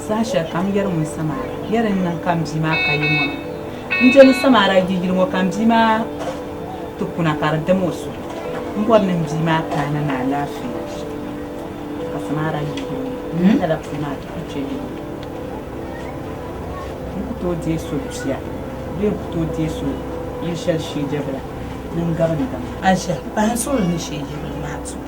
Saha shɛli ka m yɛri ŋun Samara yɛri n niŋ ka m bia maa ka yi ŋɔ maa, n je ni Samara yi yili ŋɔ ka m bia maa ti kuna ka di dim o suhu. M bɔri ni m bia maa kaana ni alaafee ka Samara yi yili ŋɔ ka lala puli maa ti ku chɛ yili ŋɔ. N ku tooi deei so bia bee n ku tooi deei so yili shɛli sheejɛbila ni n gabindam. Aisha, Pahi n suhuri ni sheejɛbila maa zuɣu.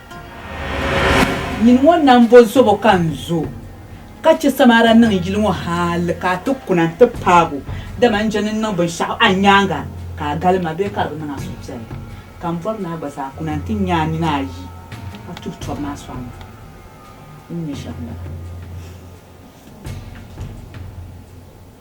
Nyin ŋɔ nambo zobo ka n zo, ka chɛ Samaria niŋ yili ŋɔ hal ka a ti kuna nti paag o, dama n chani n-niŋ binshɛɣu a nyaaŋa ka a gal ma bee ka di bi niŋ a suhupiɛlli. Ka m bɔri ni a gba zaa kuna nti nya a nini a yi a tuhi tɔb maa sɔŋ ma. Din nya shɛm m-bala.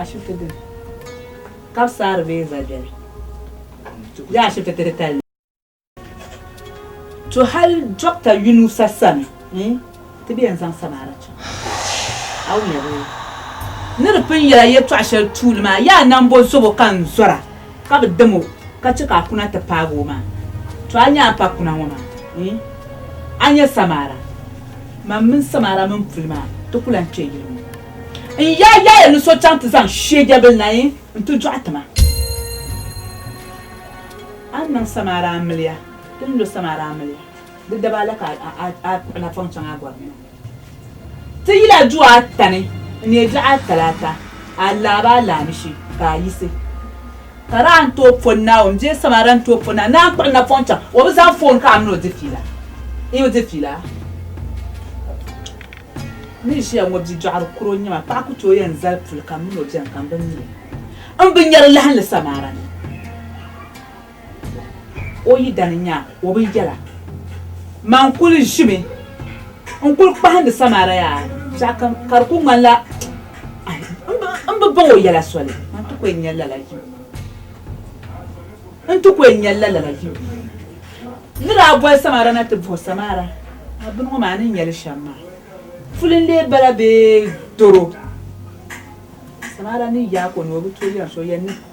ashibiti dini ka bi saari bee za biɛni bee ashibiti ti titali ni to hali dɔkta yunusa sani ti bɛ yɛn zaŋ samaara chaŋ a wuliya bee ni di pun yɛla yɛltɔɣa shɛli tuuli maa yaa nambo zobo ka n zɔra Ka bi dam o, ka chɛ ka a kuna ti paagi o maa. Tɔ! A nya a ni paag kuna ŋɔ maa? Yi! A nya Samara? Mam mini Samara mini puli maa, ti ku lan kpe yili ŋɔ. N yaa yaaya ni so chaŋ ti zaŋ shiejebil na yi nti dɔɣi ti ma. A ni niŋ Samara amiliya, ti ni lo Samara amiliya, di daba la ka a kpuɣi napɔŋ chaŋ a gɔrim na. Ti yila du ata ni n-neei dɔɣi atalaata, alaaba alaamishi ka a yiɣisi. Ka di a ni tooi pɔ Naawuni bee samara ni tooi pɔ Naawuni ni a kpuɣi napɔŋ chaŋ, o bi zaŋ foon ka a mini o di fiila. Yi di fiila? N ni ʒiya ŋɔ bi dɔɣiri kuro n-nyɛ ma, paɣa ku tooi yɛn zali puli ka m mini o beni ka m bi mi li. M bi nyari lahinli samara ni. O yi dani nya o bi yɛla, Man kuli ʒimi n-kuli kpahindi Samaria yaa shɛh ka ka di kuli ŋmanila m bi baŋ o yɛla soli. Man ti ku yɛn nya lala yim. N ti ku yɛn nya lala yim. N ni daa boli Samaria na ti bahi o Samaria maa bini ŋɔ maa ni nya li shɛm maa, puli n-lee bala bee doro? Samaria ni yaak o ni o bi tooi yɛn so yɛn ni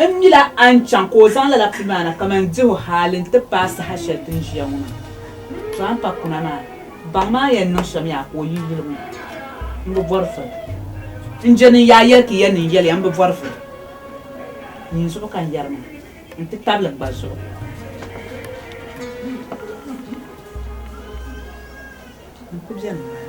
N mila a ni chaŋ ka o zaŋ lala pili ma na kaman dihu hali nti paai saha shɛli ti ni ʒiya ŋɔ maa. Tɔha pa kuna maa, baŋ ma a yɛn niŋ shɛm ya ka o yi yuli ŋɔ, m bi bɔri voli. N je ni n yaa yɛli ti ya ni n yɛli ya, m bi bɔri voli. Nyin zuɣu ka n yɛri maa, nti tabili n gba zuɣu. N ku beni maa.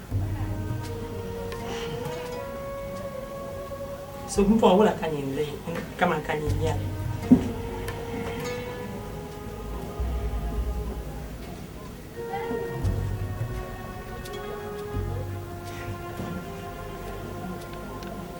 So n pɔɣi wula ka ni n lihi kaman ka ni n nyɛli.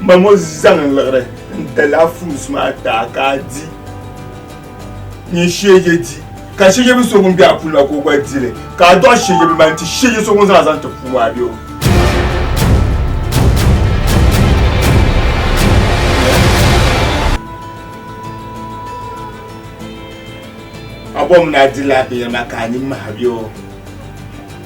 Mamo zaŋ n liɣiri n dala fruits maa taa ka a di ni shege di ka shege bi so ŋun be a puuni la ka o gba dili ka a dɔɣi shege bi mani ti shege so ŋun zaŋ a zaŋ ti puubu a be o a bɔmi ni a dila a binyɛri maa ka a nini mahi be o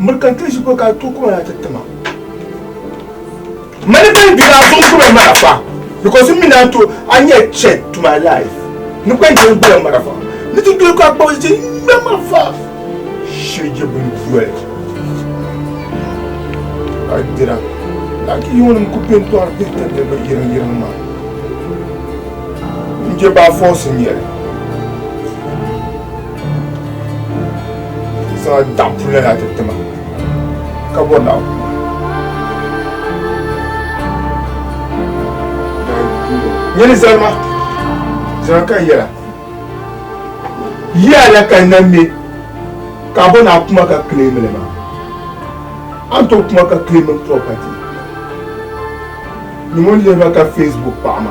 Murka kpe ʒi ko ka tooi kuma yaa ti tima. Mani kpe di daa zuɣu gbura mara fa because mi naan to a nyɛ threat to my life ni kpe di gbura mara fa ni ti doli ka kpab ti ŋmɛ ma fa shirigi bin doli ka dira laki yiŋnim ku pin tɔri bɛ ti ni bi yirin yirin ma n je baa fɔsi nyɛli. Sa da pula na ti tima ka bɔ na nyɛli zalima zaa ka yɛla yiya la ka na me ka bɔ na kuma ka claim li ma an to kuma ka claim property ni ŋun lihima ka facebook paɣa ma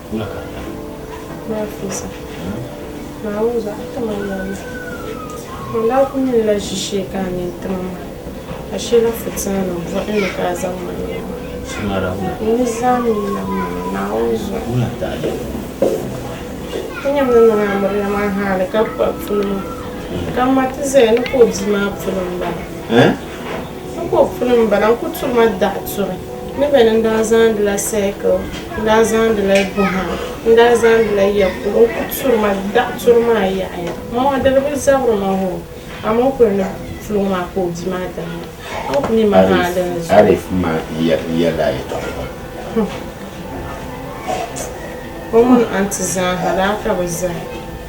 Nafisa, Naawuni zaɣ ti ma yɛlli. Man daa kul nyinila ʒishee ka a nyin ti ma maa, ka shɛla fitiŋanim bɔhi n ni ka a zaŋ ma nya maa, n ni zaŋ mi nam ma ni Naawuni zuɣu. Ti nyam ni niŋ Amiliya maa haali ka kpab puli maa, ka m ma ti zaya ni ka o bia maa puli m-bala. N ko puni n bala, n ku turi ma daɣu turi ni bɛ ni n daa zaandila sɛɛkil, n daa zaandila buha, n daa zaandila ya polo, n ku turi ma daɣu turi maa yaɣa yaɣa. M ma diri bi zabiri ma hoo, amaa o kuli ni puluŋ maa ka o bia maa diri ma. A ni ku mi ma haa di ni zuyu. Arif ma yɛla a yɛtɔɣa pam. O mini anti zaa ha daa ka bi zaya.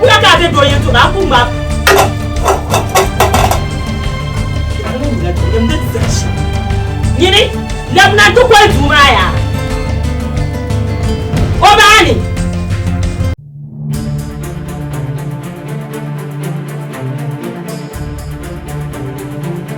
Wula ka be do yɛn to ba ku ma. Nyini labina ti kɔli duu maa yaa. O baani.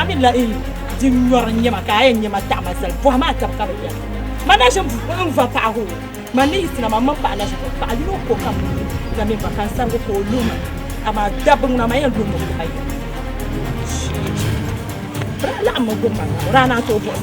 Amin la in di nyɔri nyɛma ka a yɛn nyɛma taɣima zali bɔhi maa taba ka bi yɛli ma na ʒin n va paɣa hoo ma ni yi sina ma mini paɣa na ʒin paɣa yino ko kam na min va kan sarigu ka o lo ma amaa dabbi ŋuna ma yɛn lo ma ma yɛn laɣim ma gbubi ma raana to bɔhi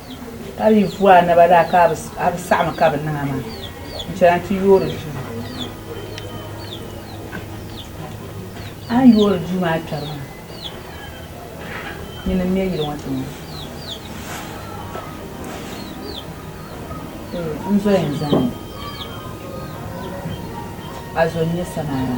Ka di yi vu a naba daa ka a bi saɣimi ka bi niŋ a maa, n-chana nti yoori duu. A ni yoori duu maa kpɛri maa, nyini m-me yili ŋɔ tiŋa. N zoya n-zani, a zo n-nyɛ samaara.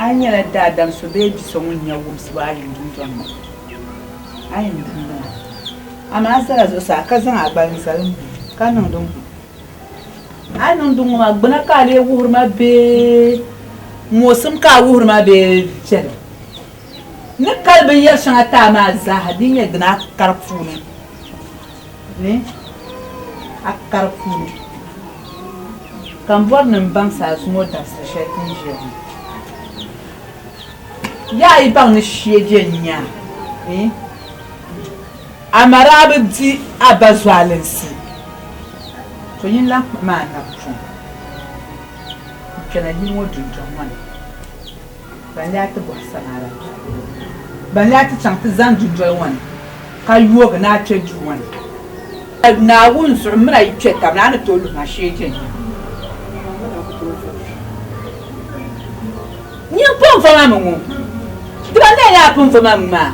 A yi nyɛla daadam so bee biso ŋun nya wumsibu a yim dundɔŋ ni, a yi ni tum di maa. Amaa zala zuɣusaa ka zaŋ a gbali n-zali m, ka niŋ din gu. A yi niŋ din ŋɔ maa, gbuna ka a lee wuhiri ma bee mɔɣisim ka a wuhiri ma bee viɛlim? N ni kali binyɛr shɛŋa ti a maa zaaha di yi nyɛ din a kari puuni. ni a kari puuni, ka m bɔri ni m baŋ saasuŋɔ dabisili shɛli ti ni ʒiya ŋɔ. Yaa yi baŋ ni shie je n-nya ni a ma daa bi di a ba zualinsi, to yin lan kpuɣi ma a napɔŋ n-kpɛna yili ŋɔ dundɔŋ ŋɔ ni. Ban lee a ti bɔhi Samaria bia polo, ban lee a ti chaŋ ti zani dundoli ŋɔ ni ka yoogi ni a kpe duu ŋɔ ni? Naawuni zuɣu m mini a yi kpe tab ni, a ni tooi luhi ma shee je n-nya? Nyin pun va ma mi ŋɔ, di ban lee ni a pun va ma mi maa?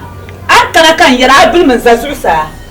A ni kana ka n yɛra a bilimi n-za zuɣusaa.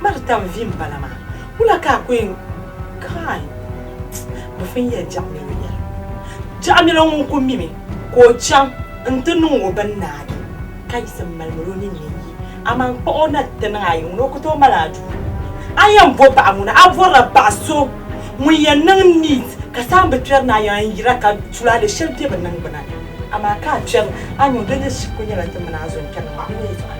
Marita n vi m bala maa wula ka a koyin kai bɛ fin ya jaɣmilo yɛla jaɣmilo ŋun ku mimi ka o chaŋ n ti niŋ o bin naagi ka yisim malimil o ninni yi aman kpuɣ o na ti niŋ a yi ŋuni o ku tooi mali a duu a yɛn bo paɣa ŋuni a bɔrila paɣa so ŋun yɛn niŋ niit ka saha bi kpɛri ni a yɛn yira ka tulaale shɛli be bɛ niŋgbuna ni amaa ka a kpɛri a ni o doli shikuru nyɛla ti mini a zo n kpɛri ni maa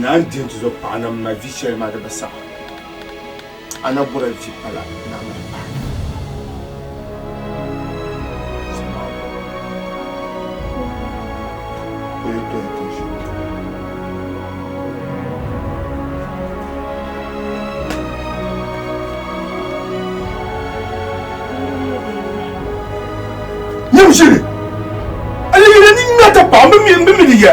Naa n-di n-tizo paɣa na m-ma vi shɛli maa di bi saɣi a na bɔra vi pala naa maa pahi. Nyam shili! Ayi yuli ni ŋmɛriti paɣa m-bi mi di ya.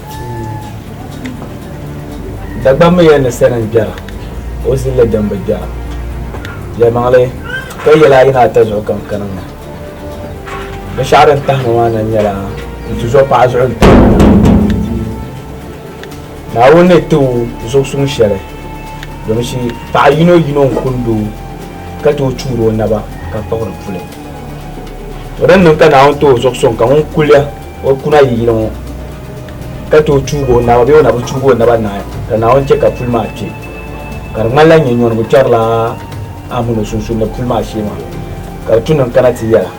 Dagbammiya ni sani n-gbɛra, o zilli din bi gbɛra. Yɛlimaŋli, ka yɛla ayi ni ata zuɣu kam ka niŋ nahi. Binshɛɣu din tahi ma maa na nyɛla n-tuzo paɣa zuɣu n-ti o maŋa. Naawuni ni ti o zuɣu suŋ shɛli, domi shi paɣa yino yino n-kundi o ka tooi chuuri o naba ka kpuɣiri puli. O ni niŋ ka Naawuni ti o zuɣu suŋ ka ŋun kuliya O kuna yi yili ŋɔ ka tooi chuugi o naba bee o na bi chuugi o naba naai ka Naawuni chɛ ka puli maa kpe. Ka di ŋmanila nyɛ nyɔnigu kpɛrila a mini o sunsuuni ni puli maa shee maa, ka di tu niŋ kana ti yɛla.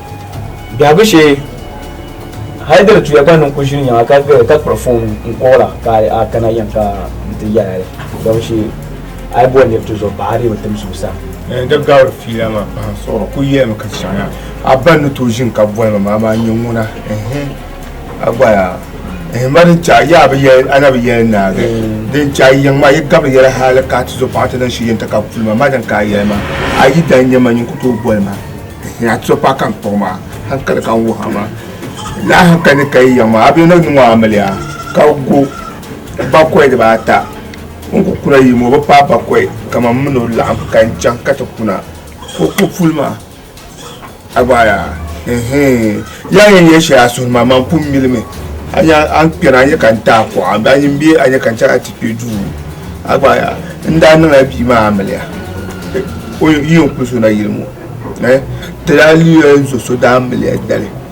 Biɛhigu shee, hali di ni tuya gba niŋ ku ʒiri nyɛma ka gari ka kpuɣi foon n-kuɣira ka a kana yɛm ka n ti yɛla li dɔmi shee a yi bɔri nir tuzo baɣa a dii bi tim zuɣusaa. N ni daa gabiri fiila maa pahi suɣiri ku yɛlimi ka chaŋ ya. A ba ni tooi ʒini ka boli ma maa maa n-nyɛ ŋuna. A gba yaa ehe ma din chahi yaa bi yɛli a na bi yɛli naagi din chahi yiŋ maa yi gabiri yɛli hali ka ti zo paɣa ti niŋ shi yɛn ti ka puli ma ma din ka a yɛli ma a yi daa nyɛ ma nyin ku tooi boli ma ehe a ti zo paɣa ka n kpuɣi ma hankali ka n wuhi a ma laa hankali ni ka yi yiŋ maa a bia ni nyu ŋɔ a mili ya ka go bakɔi diba ata n ku kuna yi ma o bi paai bakɔi kaman m mini o laɣim ka n chaŋ ka ti kuna ka o ku puli ma. Abaya. Ehe. Ya yin ye shɛli a suhuri maa man kum mili mi. A nya an kpɛna a nya ka n ti a kuɣa ba yin be a nya ka n chɛra ti kpe duu. Abaya. N daa niŋla bia maa amiliya. O yi yɛn kuli so na yili mo. Eh. Ti daa liya n zo so daa miliya dali.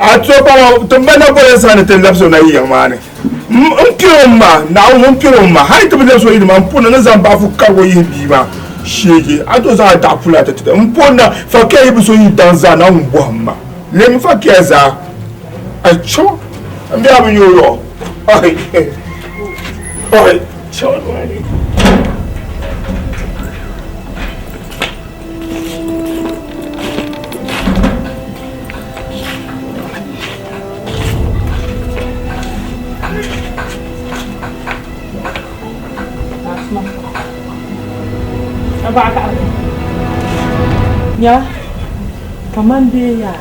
A to kpaŋa tiŋgbani na boli n-saha ni ti labis o na yiŋ maa ni. M kpir o ma, Naawuni m kpir o ma, hal ti bi labis o yi ni maa, m pun ni zaŋ baɣifu karig o yihi bia maa sheegi. A to zaŋ a daɣu puli ata ti m pun na, fakia yi bi so yi daŋ zaa Naawuni bɔhim ma, leei mi fakia zaa. A cho, m bia bi nya o yɔɣu. Ɔhi, ɔhi, ɔhi. Nya, kaman bɛ ya,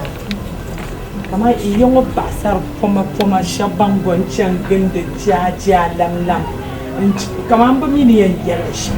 kaman yi ya ŋɔ paɣisar pomapoma shɛb bɛn go n-chani gindi jiajialamlam, kaman bɛ mi ni yɛn yɛli shɛm.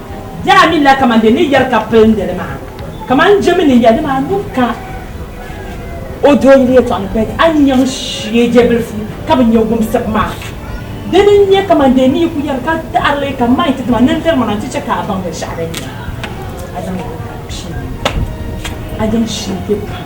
Daa mi la kaman di ni yɛri ka pilindi li maa, kaman n jɛmi ni ya dama a nuu ka o do n yuli tɔɣu ni bɛdi a ni yɛn shie je bilifu ka bi nya wumsibu maa. Dini n nyɛ kaman di ni yi ku yɛri ka taɣiri li ka maiti dama nintiri maa nti chɛ ka a baŋ binshɛɣu din nyɛ a zaŋ li ka di pii a yɛn shie be pam.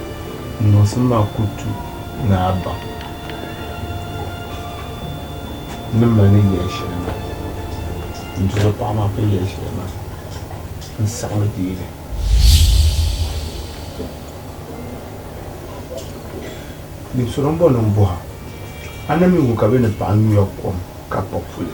N niŋsim maa ku tu ni a baŋ ni mali ni yɛli shɛli maa. N dɔla paɣ maa ka yɛli shɛli maa, n saɣimi deei li. Dim sɔrɔ m-bɔŋɔ ni m bɔh a, a na mi ŋu ka bɛ ni paɣ nyuya kom ka pa puli?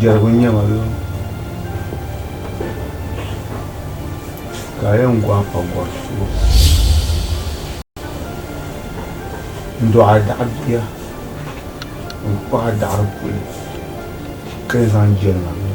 Jɛrigu n-nyɛ ma bee? Ka a yɛn gɔhi pa gɔri subu n-dɔɣi a daɣi bia n-kpuɣi a daɣiri puli ka yɛn zaŋ jɛri ma bee?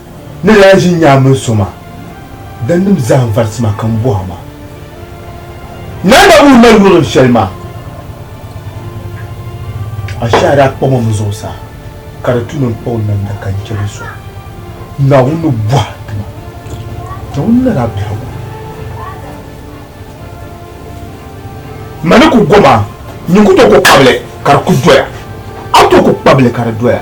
Ni daa ʒi nyaa mini so maa, danim zahim varisi maa ka m bɔh a ma, Naa Naawuni ni mali wurim shɛli maa, ashɛhi a daa kpɔm o mi zuɣusaa, ka di tu ni n kpa o namda ka n chɛ li sɔŋ. Naawuni ni bɔh a ti ma, Naawuni na daa biɛhigu ma ni ku gom a, nyin ku tooi ku kpab li ka di ku doya, a tooi ku kpab li ka di doya.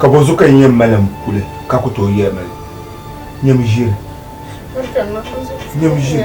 Ka bɔ zuɣu ka yi nyɛ malim kuli ka ku tooi yɛli mali nyɛm ʒiri? Nyɛm ʒiri.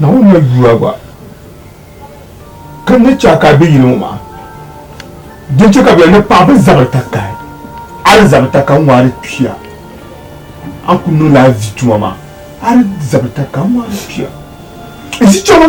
Naawuni mali dua gba ka ni chɛ ka a be yili ŋɔ maa din chɛ ka bɛ ni paɣ bɛ zabiri takahi a di zabiri takahi ŋɔ a di kpiya a ni kul niŋ la a vi tuma maa a di zabiri takahi ŋɔ a di kpiya n zi chɛma